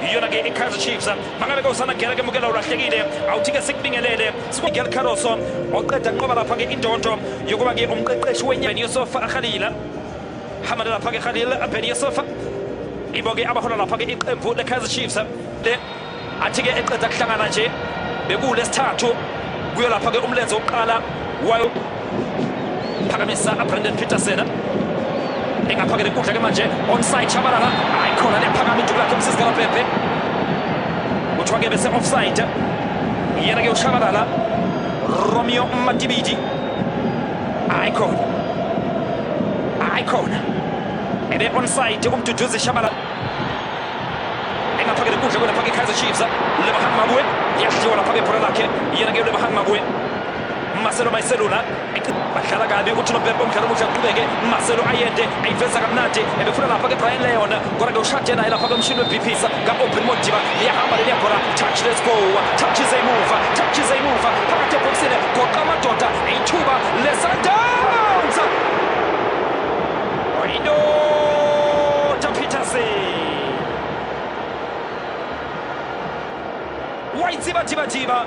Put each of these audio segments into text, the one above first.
iyona ke ikaizer chiefs mangabe ke usanagela ke mukela ulahlekile awuthi ke sikubingelele sikwagel caroso oqeda nqoba lapha ke indonto yokuba ke umqeqeshi wenyani yosofa akhalila hamada lapha ke khalil abheni yosofa ibo ke abahola lapha ke iqembu lekaizer chiefs le athi ke eqeda kuhlangana nje bekulesithathu kuyolapha ke umlenze wokuqala wayo phakamisa abrandon peterson engaphakela inkundla ke manje onside shabalala hayi khona liyaphakama iduku lakhe umsisikalabhebhe kuthiwa ke bese offside yena ke ushabalala romeo matibidi hayi khona hayi khona ebe onside umduduzi shabalala engaphakela inkundla kwelapha ke kaizer chiefs lebahan mabue yadliwa lapha ke bhola lakhe yena ke lebahan mabue Marcelo Mayiselula badlala kabi uthi nompempe umdlalo omuhle aqhubeke Marcelo ayende ayiveza kamnandi ebefuna lapha ke Brian Leon kodwa ke ushade naye lapha komshini weBP ka Open Modiba liyahamba leli yabhola touch let's go touch is a move touch is a move phakathi ebhoksini goqa amadoda ithuba leSundowns Oyino Peterson Wayitsiba tiba tiba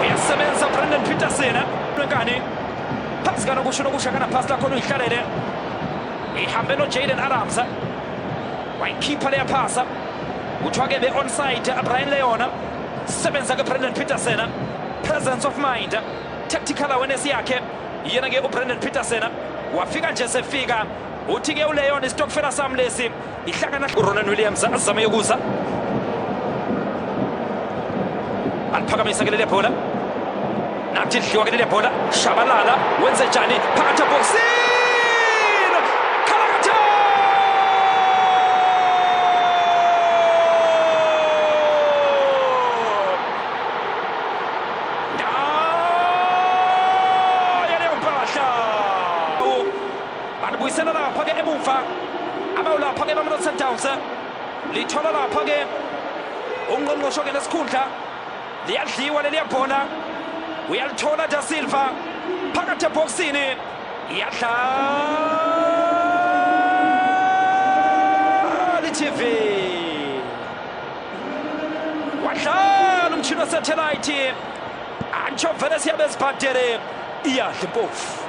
uyasebenza ubrandon peterson lwenkani phasi kanokusho nokusha kanaphasi lakhona uyihlalele ihambe nojaden adams wayikhipha leyaphasa kuthiwa ke be-onside abrian leyona sebenza ke brandon peterson presence of mind tactical awareness yakhe yena ke ubrandon peterson wafika nje sefika uthi ke uleyona isitokfela sami lesi ihlangana uronan williams azame yokuza aliphakamisa ke leli bhola nathi lidliwa ke leli bhola shabalala wenze njani phakathi ebhokisini balibuyisela lapha-ke emuva abawulapha-ke bamelo sundowns lithola lapha-ke ungqongqosho-ke nesikhundla liyadliwa leliya bhola uyalithola da silva phakathi ebhokisini iyadlala itv wadlala umtshini wasethelaythi antsho vele siyabe ezibhadele iyadla impofu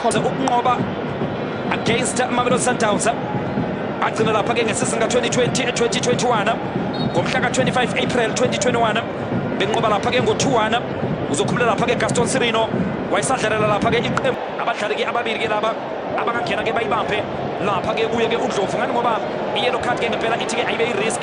khona ukunqoba against Mamelodi Sundowns agcina lapha ke ngesizini ka-2020 e-2021 ngomhla ka-25 April 2021 benqoba lapha ke ngo-2-1 uzokhulula lapha ke Gaston Sirino wayesadlalela lapha ke iqembu abadlali ke ababili ke laba abangangena ke bayibambe lapha ke kuye ke uDlovu ngani ngoba i-yellow card ke ngempela ithi ke ayibe i-risk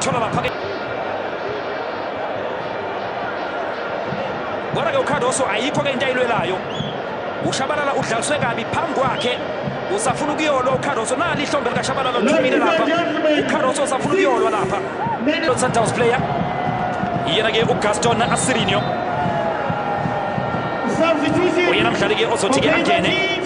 Thola lapha ke. Bona ke uCardoso ayikho ke into ayilwelayo. UShabalala udlaliswe kabi phambi kwakhe. Usafuna ukuyolwa uCardoso nali ihlombe likaShabalala lithumile lapha. UCardoso usafuna ukuyolwa lapha. Lo Sundowns player. Yena ke uGaston Asirinho. Uyena mdlali ke ozothi ke angene.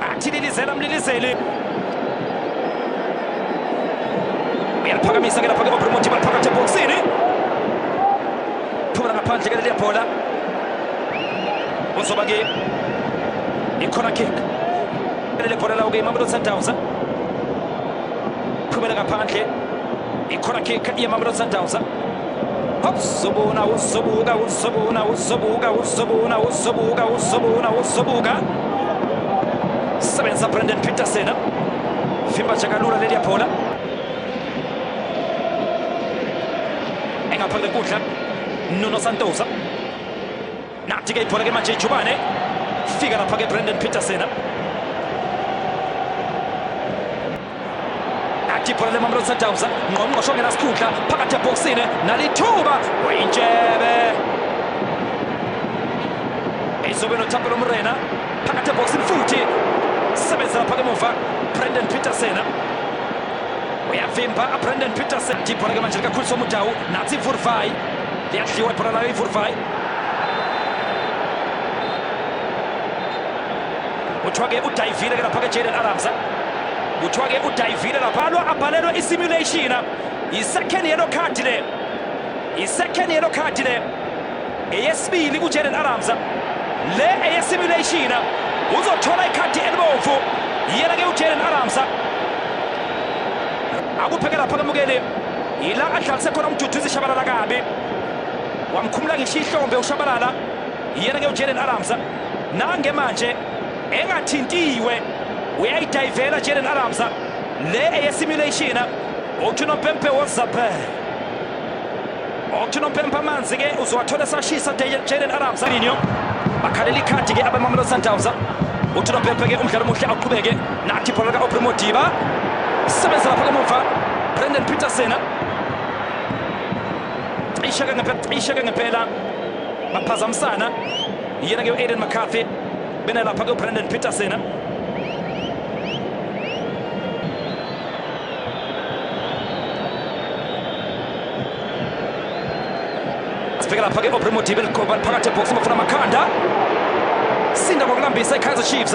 Athi lilizela mlilizeli. Uyaliphakamisa ke lapha ke Bruno Muthiba phakathi eboxini. Phumela ngaphandle ke leli bhola. Uzoba ke ikhona kick. Leli bhola lawo ke iMamelodi Sundowns. Phumela ngaphandle. Ikhona kick yeMamelodi Sundowns. Uzobona, uzobuka, uzobona, uzobuka, uzobona, uzobuka, uzobona, uzobuka. Sebenza Brandon Peterson. Vimba Chakalula leli yaphola. Engaphandle kudla Nuno Santosa. natika ibhola ke manje ijubane fika lapha ke brandon peterson nathi ibhola lemamlon sundowns ngqongqosho ongenasikhundla phakathi ebhokisini nalithuba wayintshebe izobe nothapelo mrena phakathi ebhokisini futhi sebenza lapha kemuva brandon peterson uyavimba brandon peterson ibhola ke manje likakhulisa umudawu nathi ivurvai liyadliwa ibhola layo ivurvai kuthiwa ke udayivile ke lapha ke Jaden Adams kuthiwa ke udayivile lapha lo abhalelwe i-simulation i-second yellow card le i-second yellow card le eyesibili kuJaden Adams le eye-simulation uzothola ikhadi elibomvu yena ke uJaden Adams akupheke lapha kamukeli yila adlalise khona umduduzi shabalala kabi wamkhumula ngisho ihlombe ushabalala yena ke uJaden Adams nange manje engathintiwe uyayidayivela Jaden Adams le eyesimulation okuthiwa umpempe wozaphe okuthiwa umpempe amanzi ke uzowathola esashisa Jaden Adams alinyo bakhalela ikhadi ke abemamelodi sundowns uthi umpempe ke umdlalo omuhle aqhubeke nathi ibhola lika-opre modiba sebenza lapha kamumva brendan peterson isheke ngempela isheke ngempela baphazamisana yena ke uAiden McCarthy bena lapha ke uBrandon Peterson sifika lapha ke Obrimo Dibel Koban phakathi ebox bafuna amakhanda sinda ngokulambisa iKaizer Chiefs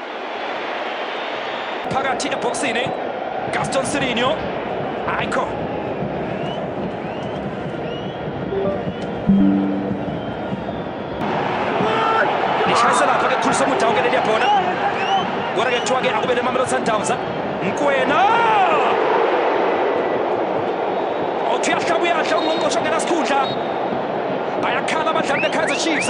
phakathi ebhoksini gaston sirinho ayikho ishayisa lapha ke khulisa umuda wonke leliya bhola kodwa ke kuthiwa ke akube nemamelo sundowns mkwena othi uyahlaba uyahle ungqongqosho ngenasikhundla bayakhala abadlali bekaizer chiefs